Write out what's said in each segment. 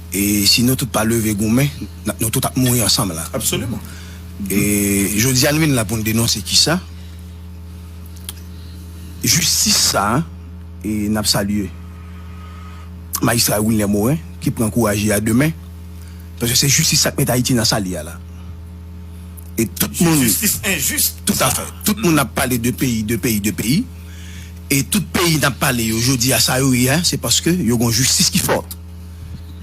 E si nou tout pa leve goumen, nou tout ap mouri ansanm la. Absoliman. E jodi a nou vin la pou nou denonse kisa? Jistis sa a, e nap salye majistra Wilner Morin ki pran kouraj li a de men, paske se jistis sa k met Ayiti nan sa li a la. E tout moun. Se jistis enjis. Tout a fè. Tout moun ap pale de peyi, de peyi, de peyi. E tout peyi nap pale yo jodi a sa yo ye a, se paske yo gon jistis ki fòt.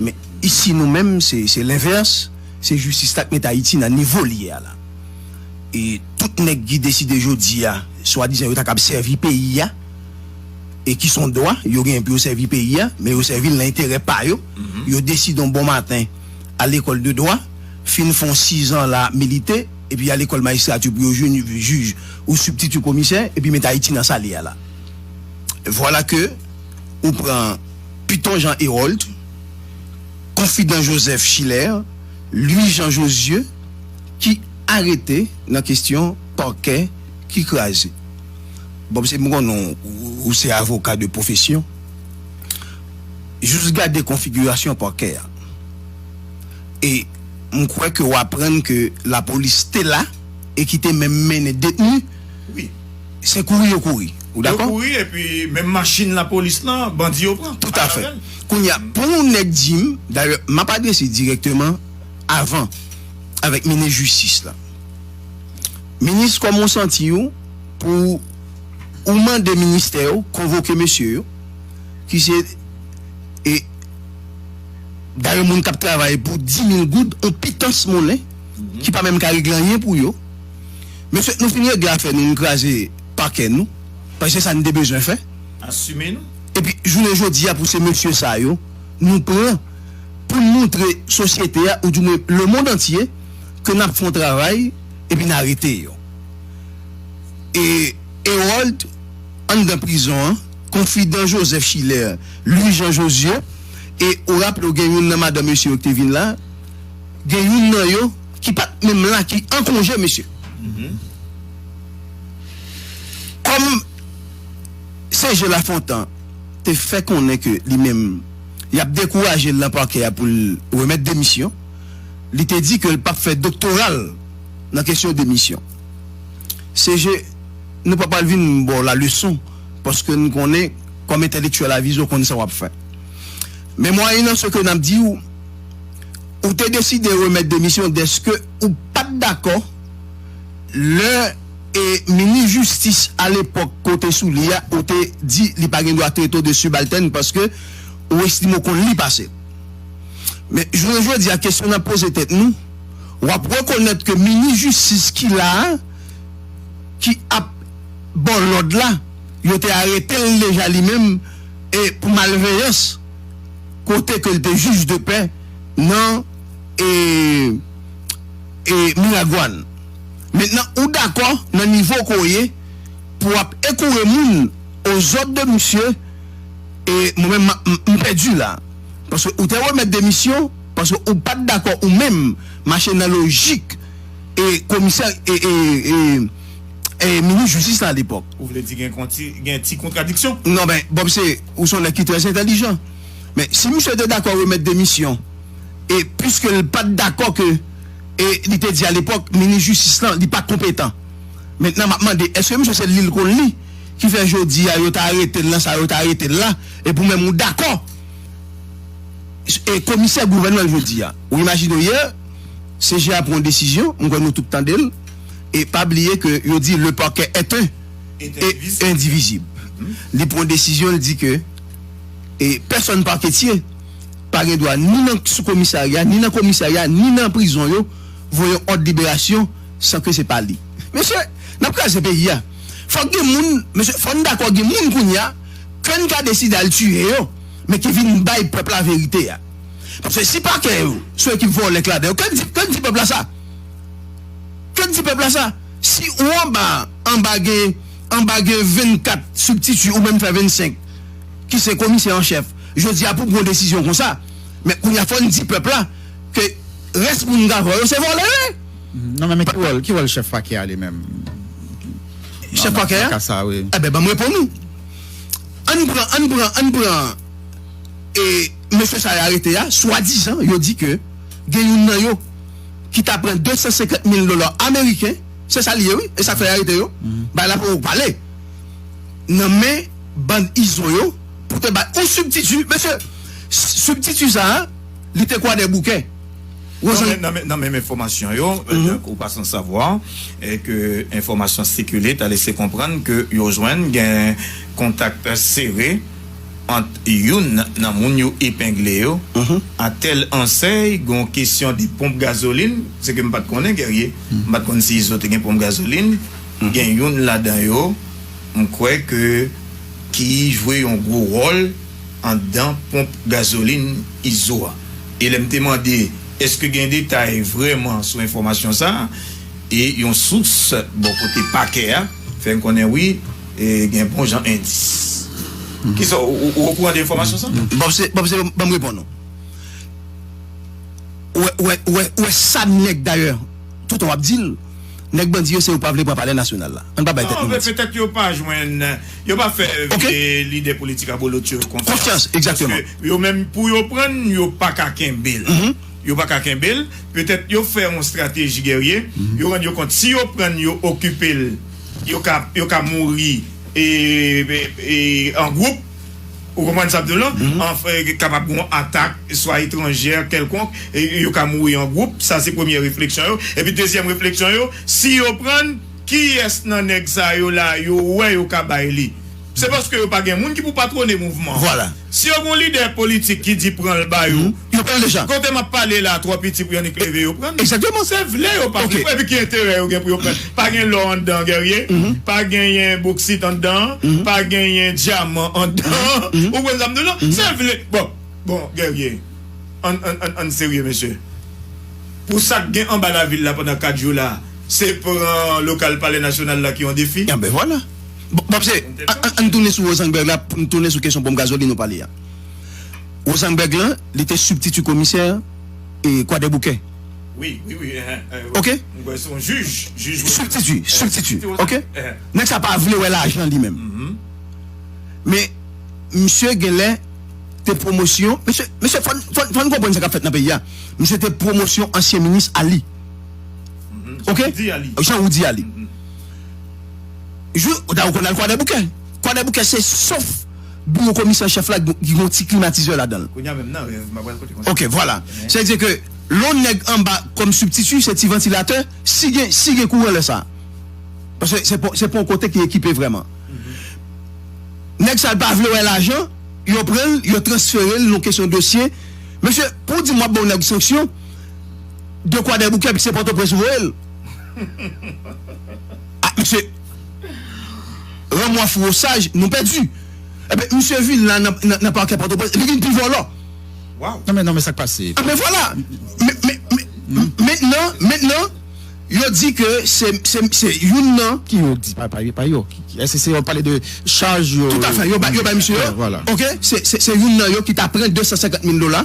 Men isi nou menm se lenvès, se jistis la k met Ayiti nan nivo l ye a la. E tout nèg ki deside jodi a swadizan yo ta kab sèvi peyi a, e ki son dwa yo genyen pou yo sèvi peyi a, men yo sèvi l nan enterè pa yo, yo deside yon bon maten al lekòl de dwa, fin fè yon sizan la ap milite, epi al lekòl majistrati pou yo vin jij ou sibtiti komisè, epi met Ayiti nan sa l ye a la. Vwala ke ou pran. Python Jean Hérolde, Confident Joseph Schiller, Louis Jean Josieu ki arete nan kestyon pakè ki kraze. Bob se m konnen ou se avoka de pwofesyon, jis gade konfigirasyon pakè a e m kwè ke w aprann ke lapolis te la e ki te menm mennen detni. Se kouri yo kouri. Ou dakò? Yo kouri epi menm machin lapolis lan bandi yo pran. Tout afè. Kounye a pou yon nèg di m, dayè m ap adrese dirèkteman avan avèk minis jistis la. Minis kòman w santi w pou ou mande ministè yo konvoke mesye yo ki se e dayè moun k ap travay pou 10 mil goud yon pitans monnen ki pa menm ka regle anyen pou yo. Men fek nou fin regle afè nou nou kraze pakè nou paske se sa nou te bezwen fè. Asime nou. Epi jounen jodi a pou se mesye sa yo nou pran pou n moutre sosyete a ou di mwen lemond antye ke n ap fon travay epi n arete yo. E Erold anndan prizon an, konfidan Joseph Schiller, Louis Jean Josieu e ou raple w gen youn nan madan mesye yo ki te vin la, gen youn nan yo. Ki pat menm la ki an konje mesye kòm CG Lafontan te fè konnen ke li menm yap dekouraje l nan pakè a pou l remèt demisyon li te di ke l pap fè doktora l nan kesyon demisyon CG nou pa pral vin ba w la leson paske n konnen kòm entèlektyèl avize w konn sa wap fè men mwayenn se ke nap di w ou te deside remèt demisyon dèske ou pat dakò lè e minis jistis alepòk ke w te sou li a ou te di li pa gen dwa trete w de sibaltèn paske ou estime w konn li pase l. Men jounen jodi a kesyon n ap poze tèt nou, w ap rekonèt ke minis jistis ki la a ki ap ba w lòd la yo te arete l deja li menm e pou malveyans. kote ke l te jij de pè nan e e miragwan mentnan ou dakò nan nivo ke w ye pou w ap ekoure moun o zòd de misye e mwen menm map m pèdi la paske ou te remèt demisyon paske ou pat dakò ou menm mache nan lojik e komisè e e e e minis jistis la alepòk. Ou vle di gen konti gen ti kontradiksyon? Non men bon msi. Ou son nèg ki trè entèlijan. Men si misye te dakò remèt demisyon e piske l pat dakò ke e li te di a lepòk minis jistis lan li pa konpetan. Mentnan map mande eske misye se li l konn li ki fè jodi a yo ta arete l nan sa yo ta arete l la epi ou menm ou dakò e komisè gouvènman l jodi a. Ou imajine w yè CJA pran yon desizyon mwen kwè nou tout tande l e pa bliye ke yo di le parquet est un. e endivizib. Li pran desizyon li di ke e pèsòn paketye pa gen dwa ni nan sou komisarya, ni nan komisarya, ni nan prizon yo voye yon òd liberasyon san ke se pa li. Mesye, n ap kraze peyi a. Fòk gen moun, mesye, fò n dakò gen moun kounye a ke n ka deside al tiye yo, men ki vin bay pèp la verite a. Paske si pakè yo sou ekip vòlè k ladan yo, ke n di, ke n di pèp la sa. Ke n di pèp la sa. Si ou anba a, anba gen anba gen 24 sibtiti ou menm fè 25 ki se komisè an chèf. Jodi a pou pran yon desizyon konsa, men kounye a fò n di pèp la ke rès moun Gavò yo se vòlè yo ye. Non men, men ki wòl, ki wòl chèf pakè a li menm Chèf pakè a? nan ka sa a wi? Enben ban m reponn ou. An n pran, an n pran, an n pran e mesye sa yo arete a, swadizan yo di ke gen youn nan yo. ki ta pran 250 mil dola ameriken, se sa li ye wi, e sa k fè y arete yo, bay la pou pale nan men bann izo yo pou te bay yon sibtiti. Mesye, sibtiti sa a, li te kwadèboukè. Nan menm enfòmasyon yo, tankou ou pa san savwa, e ke enfòmasyon sikile ta lese konprann ke yo jwenn gen kontak sere, ant youn nan moun yo epengle yo ak tèl ansèy gon kesyon de ponp gazolin, se ke m pat konnen Guerrier, m pat konn si izo te gen ponp gazolin, gen youn ladan yo m kwè ke ki jwe yon gwo wòl andan ponp gazolin izo a. E lè m te mande eske gen detay vrèman sou enfòmasyon sa, e yon sous bò kote pakè a fè n konnen wi, Gen bon jan endis. Kisa w, ou okouran de enfòmasyon sa? Bon se, bon se, banm reponn ou. Ou wè, ou wè, ou wè, ou wè sa nèg dayè, toutan w ap di l, nèg bandi yo se yo pa vle pran palè nasyonal la. Ann pa bay tèt nou manti. Non, petèt yo pa jwenn, yo pa fè vye lide politik abolotcho yo konfyans. Konfyans, egzakteman. Paske yo menm pou yo pran l, yo pa ka kenbe l. Yo pa ka kenbe l. Petèt yo fè yon estrateji gèrye. Yo rann yo kont si yo pran l, yo okipe l. Yo ka yo ka mouri e e an gwoup ou konprann sa m di w lan an kapab gen yon atak swa etranjè kèlkonk e yo ka mouri an gwoup sa se premyè refleksyon yo epi dezyèm refleksyon yo si yo pran kiyès nan nèg sa yo la yo wè yo ka bay li. Se paske yo pa gen moun ki pou patwone mouvman. Vwala. Si yo gen yon lidè politik ki di pran l ba yo. Yo pran l deja. Kote m ap pale la a twò piti pou yon nik leve yo pran l. Egzakteman. Se vle yo pa vle. Ok. Epi ki enterè yo gen pou yo pran l? Pa gen lò anndan Guerrier. Pa genyen boksit anndan an. Pa genyen dyaman anndan an. Ou konprann sa m di w la? Se vle. Bon, bon Guerrier, ann, ann, ann, ann serye mesye. Pou sa k gen anba lavil la pandan 4 jou la a, se pran lokal Palè Nasyonal la ki yon defi? Anben vwala. Bon, Bab se, an n tounen sou Rosenberg la, pou n tounen sou kesyon ponp gazolin ou pale a. Rosenberg lan, li te sibtiti komisè Kwadèboukè. Wi, wi, wi, ehe. Ok? M kwè se yon jij, jij Rosenberg. Sibtiti, sibtiti, ok? Ehe. Nèg sa pa vle wè lajan li menm. Men, misye gen lè te pwomosyon, mesye, mesye, fò n, fò n, fò n konprann sa k ap fèt nan peyi a. Misye te pwomosyon ansyen minis Ali. Ok? Rudy Ali. Jean Rudy Ali. Jou, ou ta ou konn al kwadèboukè. Kwadèboukè se sof biwo komisè an chèf la ki gen yon ti klimatizè ladan l. Kounya menm nan rèv m ap pral kote konsa. Ok, vwala. Sa vle di ke lè yon nèg anba kòm sibtiti, se ti vantilatè, si gen, si gen kouran lè sa. Paske se pa, se pa yon kote ki ekipe vrèman. Nèg sa yo pa vle wè lajan, yo pran l, yo transfere l, yon kesyon dosye. Mesye, pou w di m w ap ba yon nèg sanksyon de Kwadèboukè epi se Pòtoprens ou voye l? Ah misye Ran mwa fouro saj nou pèdi Ebyen misye vin la nan parkè pòtoprens li vin pi vòlò Waww Non men non men sak pase Ah men vwala Mentnan mentnan yo di ke se youn nan Ki yo di pa yo pa yo Eske se yo pale de chaj yo Toutafè yo bay misye yo ok se youn nan yo ki ta pran 250 mil dola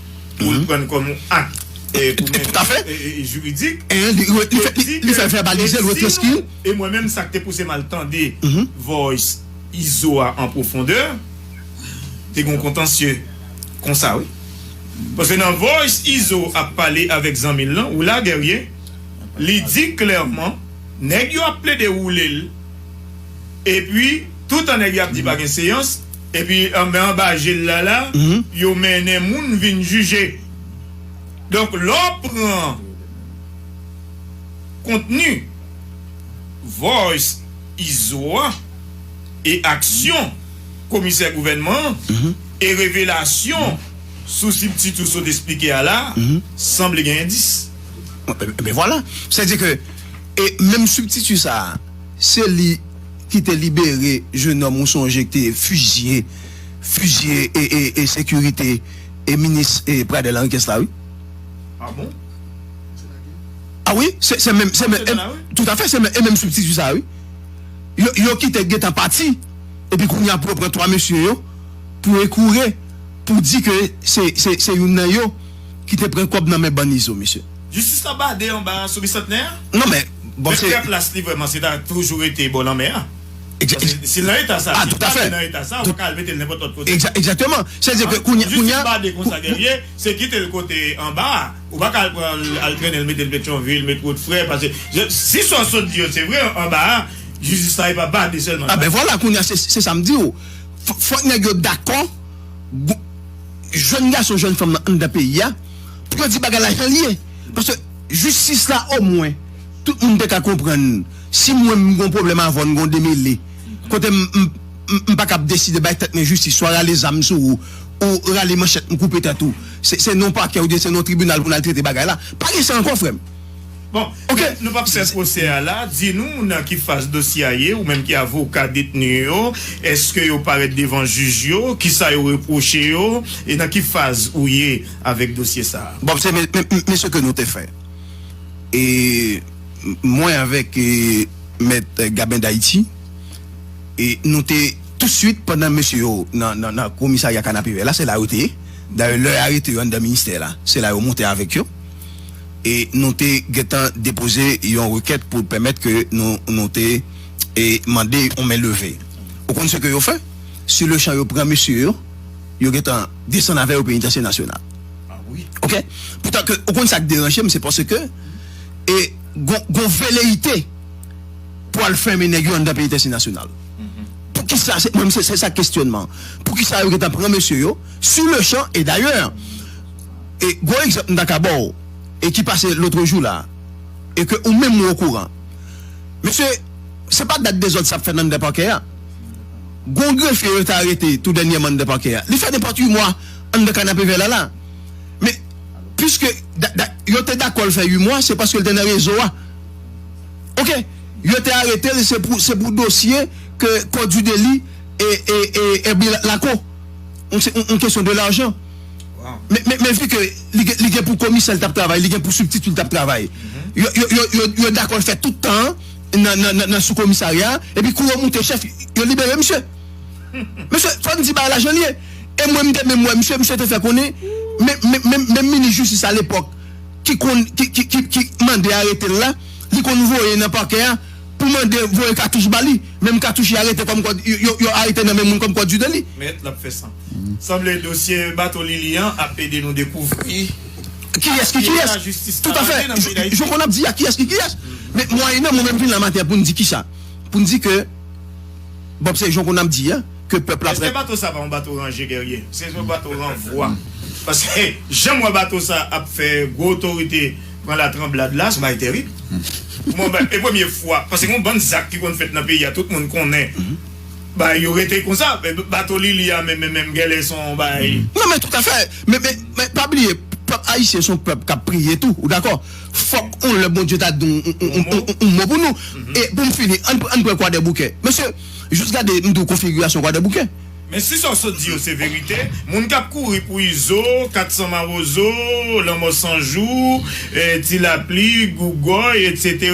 pou l pran kòm yon ak pou mwen jiridik li fè vèbalize l retranskri l e mwen menm sa k te pouse m al tande voice izo a an pwofondè te gen yon kontansye konsa wi paske nan voice izo ap pale avèk zanmi l lan ou la Guerrier li di klèman nèg yo ap plede woule l epi toutan nèg yo ap di pa gen seyans. Epi anben anba je l la la, yo mennen moun vin jije. Donk, lè w pran kontni Voice Izo a e aksyon komisè gouvènman an e revelasyon sou sibtit ou sot esplike a la a, sanble gen endis. Ebyen vwala. Sètadi ke menm sibtiti sa a. Se li ki te libere jenòm ou sonje k te fizye fizye e sekirite e minis Pradel Henriquez la wi. Ah bon? Se la gen. Ah wi, se se menm se menm e tout afè se menm e menm strikti sa wi. Yo yo ki te gentan pati epi kounya pou yo pran 3 mesye yo pou ekoure pou di ke se se se youn nan yo ki te pran kòb nan men bann izo mesye. Jistis la bade anba sou Bisantnè a? Non men, bon se. Men pè plas li vrèman se ta toujou rete bò lanmè a. Egzat. Paske si l nan eta sa, si l pa vle nan eta sa, ou pa ka al mete l nenpòt lòt kote. Egzat, egzakteman. Sa vle di ke kounye, kounye a. Jistis bade konsa Guerrier, se kite l kote anba a. Ou pa ka al pran l, al trennen l mete l Petyonvil, met wot frè, paske je, si sa w sot di yo se vre, anba a, jistis la e pa bade sèlman l bade. A ben vwala, kounye a se, se sa m di w. Fò, fòk nèg yo dakò, gou, jèn gason, jèn fanm nan anndan peyi a. Pou yo di bagay la janl ye. Paske jistis la omwen tout moun te ka konprann si mwen m gon pwoblèm avèw n gon demele kote m m paka ap deside bay tèt mwen jistis swa rale zam sou ou ou rale manchèt m koupe tèt ou se non pakè oubyen se non tribinal pou n al trete bagay la pa gen sa ankò frè m. Bon, ok, nou pap fè pwosè a la. Di nou nan ki faz dosye a ye, ou menm ki avoka detni yo. Eske yo parèt devan jij yo? Ki sa yo repwoche yo? E nan ki faz ou ye avèk dosye sa a? Bon, se men se ke nou te fè. E mwen avèk mèt Gabin D'Haiti, e nou te tousuit pandan mesye yo nan komisarya Kanapevè la, se la yo te ye. Dayè lè arete yo anndan ministè la, se la yo moute avèk yo. e nou te gentan depoze yon rekèt pou pèmèt ke nou nou te e mande yon men leve ou konn se ke yo fè si le chan yo pran mesye yo yo gentan desann avè yo penitansye nasyonal ok pou ta ke ou konn sak deranje m se pase ke e gon gon veleyite pou al fèmen nèg yo anndan penitansye nasyonal pou kisa se mwen m se se sak kesyonman pou kisa yo gentan pran mesye yo si le chan e dayè. E gwo egzanp m ta ka ba w e ki pase lotrejou la e ke ou menm ou okouran. Mesye, se pa dat dezòd sa ap fèt anndan pakè a. Gwo grefye yo te arete tou dènyèman anndan pakè a. Li fè nenpòt 8 mwa anndan kanapevè la la. Men, piske yo te dakò l fè 8 mwa, se paske l te nan rezo a. Ok. Yo te arete l se pou se pou dosye ke kò di deli e e e e bi lako. Donk se yon kesyon de lajan. Men vi ke li gen pou komisè li t ap travay, li gen pou sibtiti li t ap travay, yo dakò l fè tout tan an nan soukomisarya a, epi kou yo moute chèf, yo libere misye. Mesye, fò n di bagay la jan l ye. E mwen m te menm wè misye, misye te fè konnen, menm minis jistis alepòk ki konn, ki mande arete l la, li konn voye nan pakè a pou mande voye katouch ba li, menm katouch li arete kòmkwa yo arete nan men moun kòmkwa di deli. Sanble dosye bato Lili an ap ede nou dekouvri kiyès ki kiyès toutafè jan konn ap di a kiyès ki kiyès men mwayennan mwen menm vin la maten poun di kisa poun di ke bon se jan konn ap di a ke pèp la eske bato sa pa yon bato ranje gèrye se yon bato ranvwa paske janm wè bato sa ap fè gwo otorite pran latranblad la son bagay tèrib mwen e premye fwa paske gon bann zak ki konn fèt nan peyi a tout moun konnen. Bagay yo rete konsa. Bato Lili a menm menm gèlè son yon bagay. Non men tout afè men men pa bliye pèp ayisyen son pèp kap priye tou ou dakò fòk yon lè Bondye ta di yon mo pou nou e poum fini ann ann pran kwadèboukè mesye jis gade m diw konfigirasyon kwadèboukè. Men si sa w sot di yo se verite, moun kap kouri pou Izo, 400 mawozo, lanmò 100 jou, ti lapli, gougòy etc.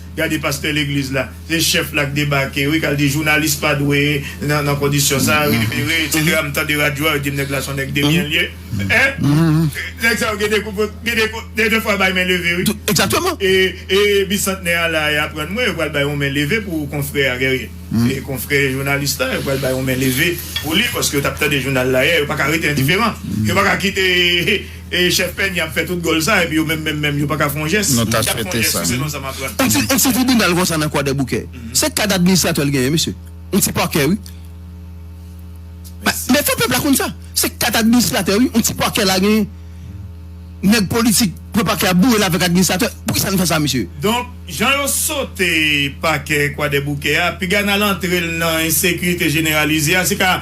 Gade pastè legliz la. Se chef la k debake wi kal di jounalis pa dwe nan kondisyon sa wi libere etc m tande radyo a yo dim nèg la son nèg de byen lye hein nèg sa yo gen de kou gen de kou gen de fwa bay men leve wi e bisantnè a la yap rann mwen yo pral bay yon men leve pou konfrè a guerrier konfrè jounalis la yo pral bay yon men leve pou li paske yo tap tande jounal la yè yo paka rete endiferan yo paka kite. E chef Penny ap fè tout gòl sa epi yo menm menm menm yo paka fè yon jès? Nou ta swete sa wi. Yon ti tribinal konsa nan Kwadèboukè. Se kad administratè l genyen mesye. Yon ti pakè wi. Men fò pèp la konn sa. Se kad administratè wi. Yon ti pakè la genyen. Nèg politik pran pakè a boure l avèk administratè. Poukisa nou fè sa mesye? Donk, jan yo sote pakè Kwadèboukè a, piga n al antre l nan ensekirite jeneralize a, se ka.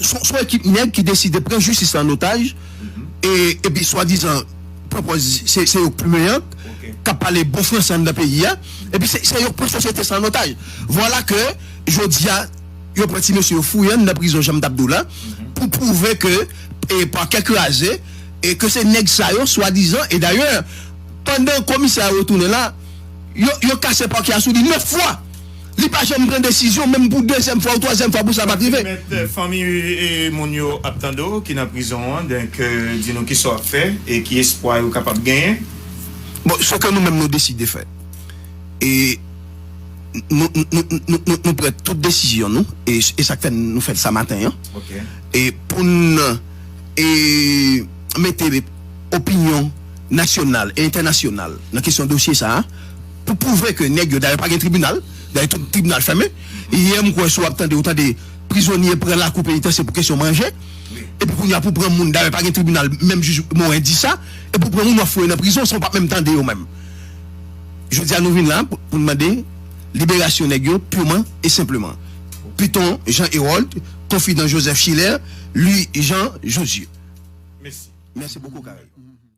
Son ekip nèg ki deside pran jistis la an otaj epi swadizan pwopòz se yo k pi meyè, k ap pale bon franse anndan peyi a epi se yo k pran sosyete sa an otaj. Vwala ke jodi a yo pran ti mesye yo fouye anndan prizon jan m t ap di w la pou pwouve ke pakè kraze e ke se nèg sa yo swadizan e dayè pandan komisè a retounen la yo kase pakè a sou li 9 fwa. Li pa janm pran desizyon menm pou dezyèm fwa ou twazyèm fwa pou sa pat rive. Mèt fanmi moun yo ap tande w ki nan prizon an donk di nou kisa w ap fè e ki espwa yo kapab genyen? Bon seke nou menm nou deside fè e nou pran tout desizyon nou e sak fè nou fèl sa maten an e poun e mete opinyon nasyonal e entènasyonal nan kesyon dosye sa. Pou pwouve ke nèg yo dayè pa gen tribinal, dayè tout tribinal fèmen, yè m kwè si w ap tande ou tande prizonye pran lakou penitansye pou kesyon manje, epi kounye a pou w pran moun dayè pa gen tribinal menm jij Morin di sa, epi w pran moun w ap foure nan prizon san w pa menm tande yo menm. Jodi a nou vin la pou n mande liberasyon nèg yo purman e senpleman. Python Jean Hérold, Confident Joseph Schiller, Louis Jean Josué. Mèsi. Mèsi bokou Carel.